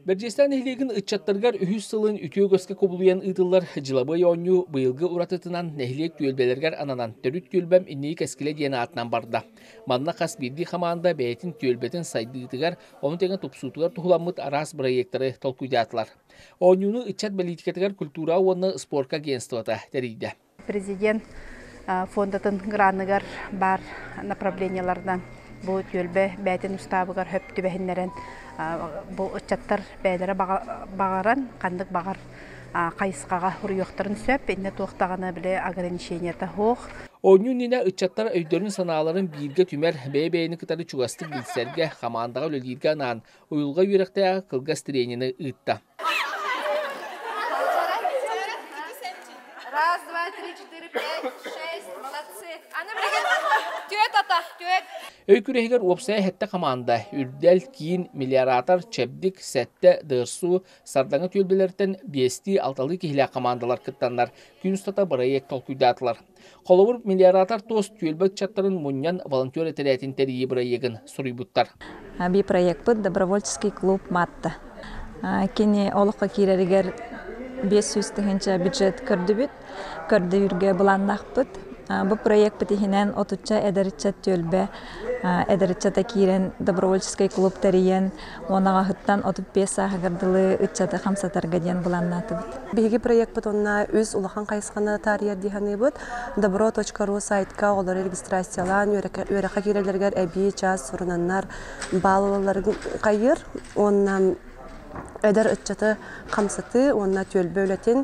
Бэрдьиэстээх нэһилиэгин ыччаттарыгар үһүс сылын үтүө көскө кубулуйан ыытыллар дьылабыай оонньуу быйылгы уратытынан нэһилиэк түөлбэлэригэр ананан төрүт түөлбэм инники кэскилэ диэн аатынан барда. Манна хас биирдии хамаанда бэйэтин түөлбэтин сайдыытыгар, ону тэҥэ тупсуутугар туһуламмыт араас бырайыактары толкуйдаатылар. Оонньууну ыччат бэлиитикэтигэр культура уонна спорка агентствота тэрийдэ. Президент фондатын граныгар баар направлениеларынан бу түөлбэ бээтин устаабыгар хөп түбэһиннэрэн бу ыччаттар бэйэлэрэ баҕаран ханнык баҕар хайысхаҕа уруйуохтарын сөп иннэ туохтаҕына били ограничениета суох Оонньуу иннинэ ыччаттар өйдөрүн-санааларын бииргэ түмэр, бэйэ-бэйэни кытары чугастык билсэргэ, хамаандаҕа үлэлииргэ анаан уйулҕа үөрэхтээҕи кылгас тренини ыытта. Раз, два, три, четыре, пять, шесть, молодцы. Аны билигин түөт ата, түөт. Өй күрэһигэр уопсайа хэттэ хамаанда үрдэл киин миллиаратор чэбдик сэттэ ДСУ сардаҥа түөлбэлэртэн биэстии алталыы киһилээх хамаандалар кыттаннар күн устата бырайыак толкуйдаатылар Холобур, мелиоратор туос түөлбэ ыччаттарын мунньан волонтер этэрээтин тэрийии бырайыагын суруйбуттар. Би проекпыт Добровольческий клуб Матта. Кини олоххо киирэригэр биэс сүүс тыһыынча бюджет көрдүбүт. Көрдөйүүргэ былааннаахпыт. Бу проекпыт иһинэн отучча эдэр ыччат түөлбэ эдэр ыччата киирэн добровольческий клуб тэрийэн Уон аҕаһыттан отут биэс сааһыгар дылы ыччаты хамсатарга диэн быланнаатыбыт. Биһиги проекпыт онно үс улахан хайысханы таарыйар дии саныыбыт. добро.ру сайтка оҕолору регистрациялаан үөрэххэ киирэллэригэр эбии чаас сурунаннар баал ылалларын хайыыр уонна эдэр ыччаты хамсатыы уонна түөлбэ үлэтин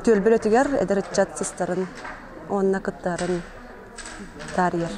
түөлбэ үлэтигэр эдэр ыччат сыстарын уонна кыттарын таарыйар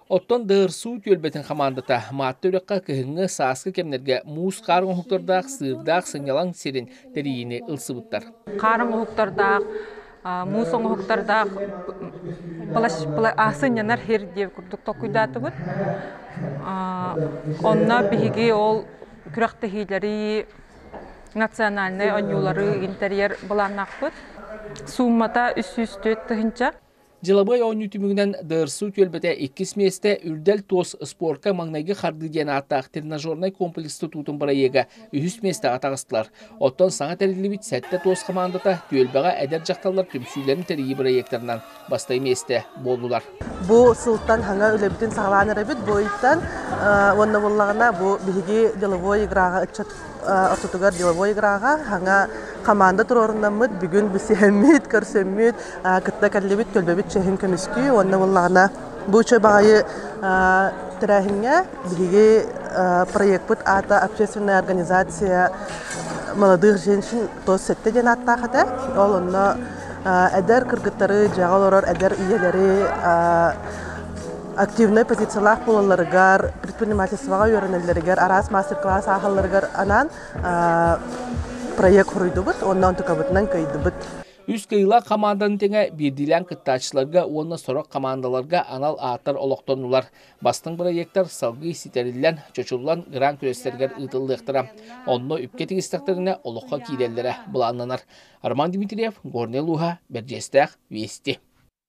Оттон ДРСУ түөлбэтин хамаандата Маатта үрэххэ кыһыҥҥы сааскы кэмнэргэ муус хаар оҥоһуктардаах, сыырдаах, сынньалаҥ сирин тэрийиини ылсыбыттар. Хаар оҥоһуктардаах, муус оҥоһуктардаах сынньанар сир диэн курдук толкуйдаатыбыт. Онно биһиги ол күрэхтэһиилэри, национальнай оонньуулары интерьер былааннаахпыт. Сууммата 304 тыһыынча. Дьылабыай оонньуу түмүгүнэн ДРСУ түөлбэтэ иккис миэстэ Үрдэл туос спорка маҥнайгы хардыы диэн ааттаах тренажернай комплекс тутуутун бырайыага үһүс миэстэҕэ атаҕастылар. Оттон саҥа тэриллибит сэттэ туос хамаандата түөлбэҕэ эдэр дьахталлар түмсүүлэрин тэрийии бырайыактарынан бастакы миэстэ буоллулар. Бу сылтан хаҥа үлэбитин саҕалаан эрэбит бу ыйтан уонна буоллаҕына бу биһиги деловой играҕа ыччат ортотугар деловой играҕа саҥа хамаанда туруорунаммыт бүгүн билсиһэммит көрсөммүт кытта кэллибит төлбөбүт чэһин көмүскүү уонна буоллаҕына бу үчүгэй баҕайы тэрээһиҥҥэ биһиги проекпыт аата общественная организация молодых женщин тос сэттэ диэн ааттаах этэ ол онно эдэр кыргыттары дьиэҕэ олорор эдэр ийэлэри активнай позициялаах буолалларыгар, предпринимательствоҕа үөрэнэллэригэр, араас мастер-класс ааһалларыгар анаан проект хоруйдубут уонна онтукабытынан кыайдыбыт. Үс кыйылаах хамаанданы тэҥэ биирдиилээн кыттааччыларга уонна сорох хамаандаларга анал ааттар олохтоннулар. Бастыҥ бырайыактар салгыы ситэриллэн, чочуллан грант күрэстэригэр ыытыллыахтара. Онно үпкэ тигистэхтэринэ олоххо киирэллэрэ былааннанар. Роман Дмитриев, Горнай Луһа, Бэрдьиэстээх, Вести.